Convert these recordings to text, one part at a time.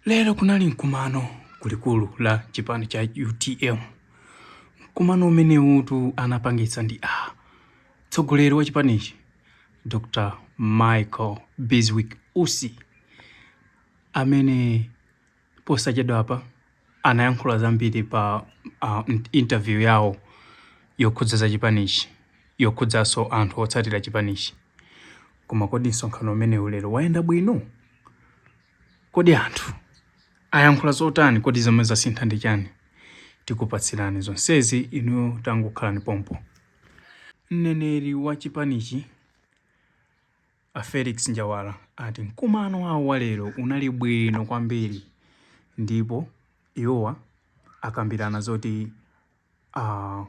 Lero kunali mkumano kulikulu la chipani cha utm. Mkumano umenewutu anapangitsa ndi a tsogoleri wa chipanichi Dr Michael Biswick Usi amene posachedwapa anayankhula zambiri pa uh, interview yawo yokhudza za chipanichi yokhudzaso anthu otsatira chipanichi. Koma kodi msonkhano umenewu lero wayenda bwino? Kodi anthu ayankhula zotani? Kodi zomwe zasintha ndi chani? Tikupatsirani zonsezi inuyo tangokhalani pompo. Mneneri wa chipanichi a Felix Njawala ati mkumano wawo wa lero unali bwino kwambiri ndipo iwowa akambirana zoti. uh,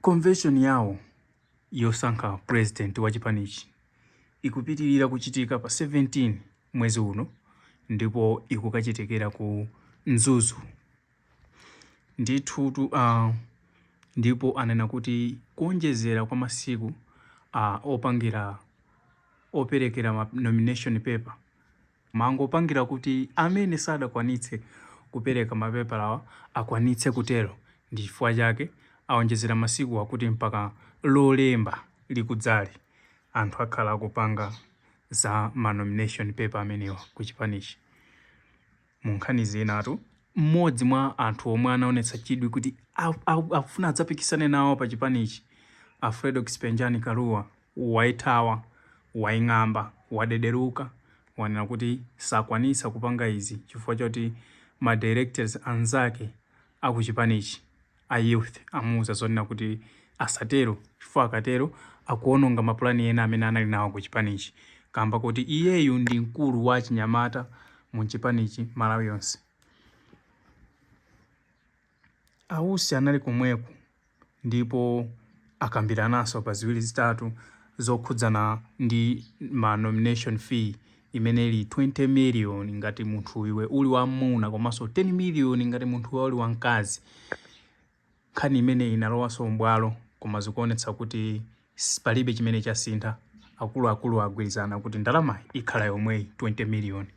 convention yawo yosankha president wa chipanichi ikupitirira kuchitika pa 17 mwezi uno ndipo ikukachitikira ku Mzuzu ndithutu uh, ndipo anena kuti kuonjezera kwa masiku uh, opangira operekera ma nomination paper Mangopangira kuti amene sadakwanitse kupereka mapepalawa akwanitse kutero ndi chifukwa chake aonjezera masiku akuti mpaka Lolemba likudzali anthu akhala akupanga za ma nomination paper amenewa ku chipanichi. Mu nkhani zinatu, m'modzi mwa anthu omwe anaonetsa chidwi kuti afuna adzapikisane nawo pa chipanichi, a Fredokiss Penjani Kalua, waithawa, waing'amba, wadederuka, wanena kuti sakwanisa kupanga izi chifukwa choti ma directors anzake a ku chipanichi a youth amuuza zonena kuti asatero chifukwa akatero akuononga mapulani ena amene anali nawo ku chipanichi kaamba koti iyeyu ndi mkulu wa achinyamata mu mchipanichi Malawi yonse. A Usi anali komweko ndipo akambirananso pa ziwiri zitatu zokhudzana ndi ma nomination fee imene ili 20 million ngati munthu iwe uli wa mmuna komanso 10 million ngati munthu iwe uli wa mkazi. Nkhani imeneyi inalowanso m'bwalo koma zikuonetsa kuti. Palibe chimene chasintha, akuluakulu agwirizana kuti ndalama ikhala yomweyi 20 miliyoni.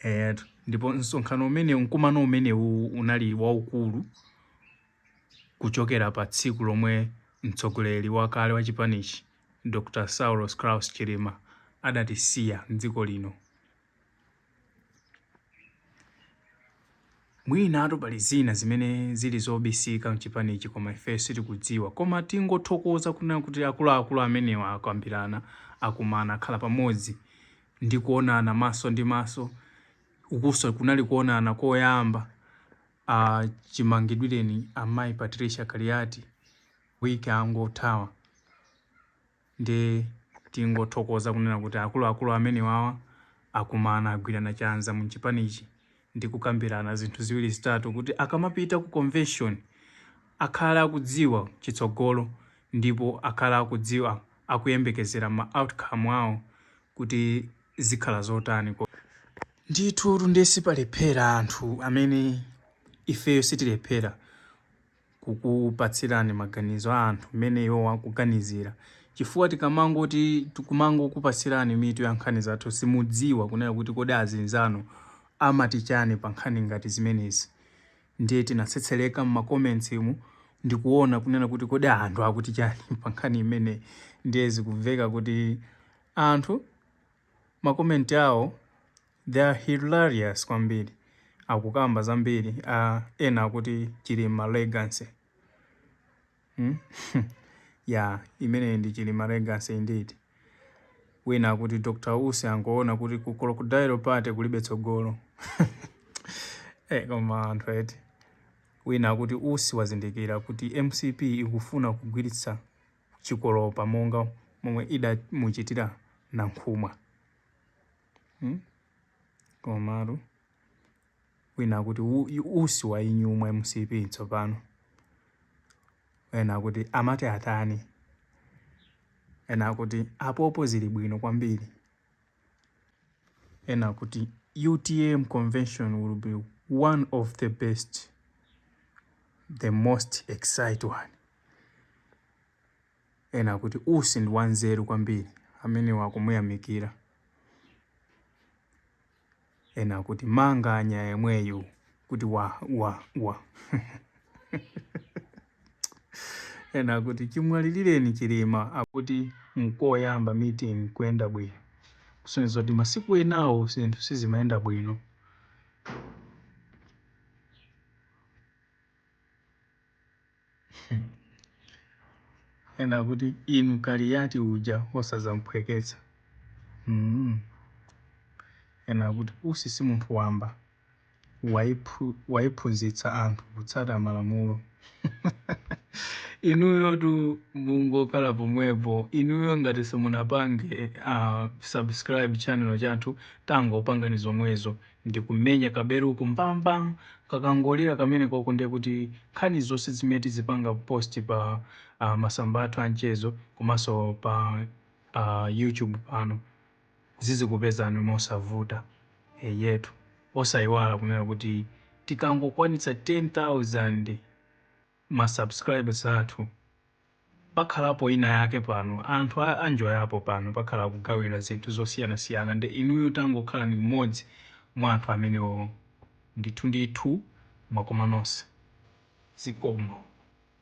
Eyetu, ndipo msonkhano umenewu, mkumano umenewu unali waukulu kuchokera pa tsiku lomwe mtsogoleri wakale wa chipanichi Dr Saulos Klaus Chilima adatisiya m'dziko lino. Mwinatu pali zina zimene zili zobisika mchipanichi koma ifeyo sitikudziwa koma tingothokoza kunena kuti akuluakulu amenewa akambirana, akumana, akhala pamodzi ndi kuonana maso ndi maso, ukunso kunali kuonana koyamba chimangidwireni a Mayi Patricia Kaliati week yangothayi. nde tingothokoza kunena kuti akuluakulu amenewawa akumana agwirana chanza muchipanichi ndi kukambirana zinthu ziwiri zitatu kuti akamapita ku convention akhale akudziwa chitsogolo ndipo akhale akudziwa akuyembekezera ma outcome awo kuti zikhala zotani. Ndithutu nde sipalephera anthu amene ifeyo sitilephera. kukupatsirani maganizo a anthu mmene iwowo akuganizira chifukwa tikamangoti tikumangokupatsirani mitu ya nkhani zathu simudziwa kunena kuti kodi azinzanu amati chani pa nkhani ngati zimenezi ndiye tinatsetsereka m'macomments mu ndikuona kunena kuti kodi anthu akuti chani pa nkhani imeneyi ndiye zikumveka kuti anthu ma comment awo they are hilarious kwambiri akukamba zambiri a ena akuti chilima legacy hmm? ya imeneyi ndi chilima legacy indeed wina akuti dr usi angoona kuti ku crocodile party kulibe tsogolo hey, eh, koma anthu eti wina akuti usi wazindikira kuti mcp ikufuna kugwiritsa chikolopa monga momwe idamuchitira Nankhumwa. Hmm? Komatu wina akuti usi wainyumwa mcp tsopano ena akuti amati atani ena akuti apopo zili bwino kwambiri ena akuti utm convention will be one of the best the most excite one ena akuti usi ndi wanzeru kwambiri amenewo akumuyamikira ena akuti manganya yemweyu kuti wa wa wa ena akuti chimwalilireni Chilima akuti nkoyamba meeting kuyenda bwino kusonyeza kuti masiku enawo zinthu sizimayenda bwino. Ena akuti inu Kaliyati uja osazamphweketsa. Mm. Ena akuti Usi si munthu wamba, waiphu, waiphunzitsa anthu kutsata malamulo. Inuyo tu mungokhala pomwepo, inuyo ngati simunapange uh, subscribe channel chathu, tangopangani zomwezo ndikumenya kabeluko mbang mbang kakangolira kamenekoko ndiye kuti nkhani zonse zimene tizipanga post pa uh, masamba athu anchezo komanso pa uh, youtube pano zizikupezani mosavuta eyetu osayiwala kunena kuti tikangokwanitsa 10000 ma subscribes athu pakhalapo ina yake pano anthu a anjoyapo pano pakhala kugawira zinthu zosiyanasiyana nde inuyo tangokhalani mmodzi mwa anthu amenewowo ndithu ndithu mwakoma nonse zikomo.